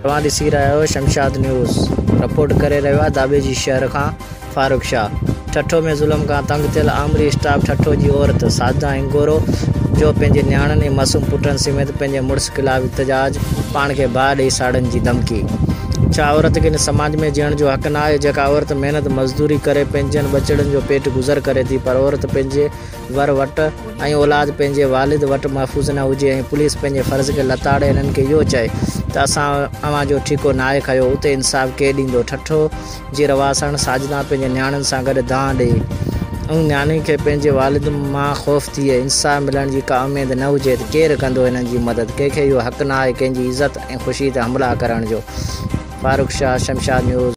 توهان ڏسي رهيا آهيو شمشاد نيوز، رپورٽ ڪري رهيو آهي داٻيجي شهر کان فاروق شاهه. ٺٽو ۾ ظلم کان تنگ ٿيل آمري اسٽاپ ٺٽو جي عورت ساجده هنگورو جو پنهنجي نياڻين ۽ معصوم پٽن سميت پنهنجي مڙس خلاف احتجاج، پاڻ کي باهه ڏئي ساڙڻ جي ڌمڪي. ڇا عورت کي هن سماج ۾ جيئڻ جو حق ناهي؟ جيڪا عورت محنت مزدوري ڪري پنهنجن ٻچڙن جو پيٽ گذر ڪري ٿي پر عورت پنهنجي. ور وٽ ۽ اولاد پنهنجي والد وٽ محفوظ نه هجي ۽ پوليس پنهنجي فرض کي لتاڙي انهن کي اهو چئي ته اسان اوهان جو ٺيڪو ناهي کنيو اتي انصاف ڪير ڏيندو؟ ٺٽو جي رهواسڻ ساجدان پنهنجي نياڻين سان گڏ دانهن ڏئي ان نياڻي کي پنهنجي والد مان خوف ٿئي انصاف ملڻ جي ڪا اميد نه هجي ته ڪير ڪندو هنن جي مدد ڪنهن کي اهو حق ناهي ڪنهن جي عزت ۽ خوشي تي حملا ڪرڻ جو فاروق شاهه شمشاد نيوز.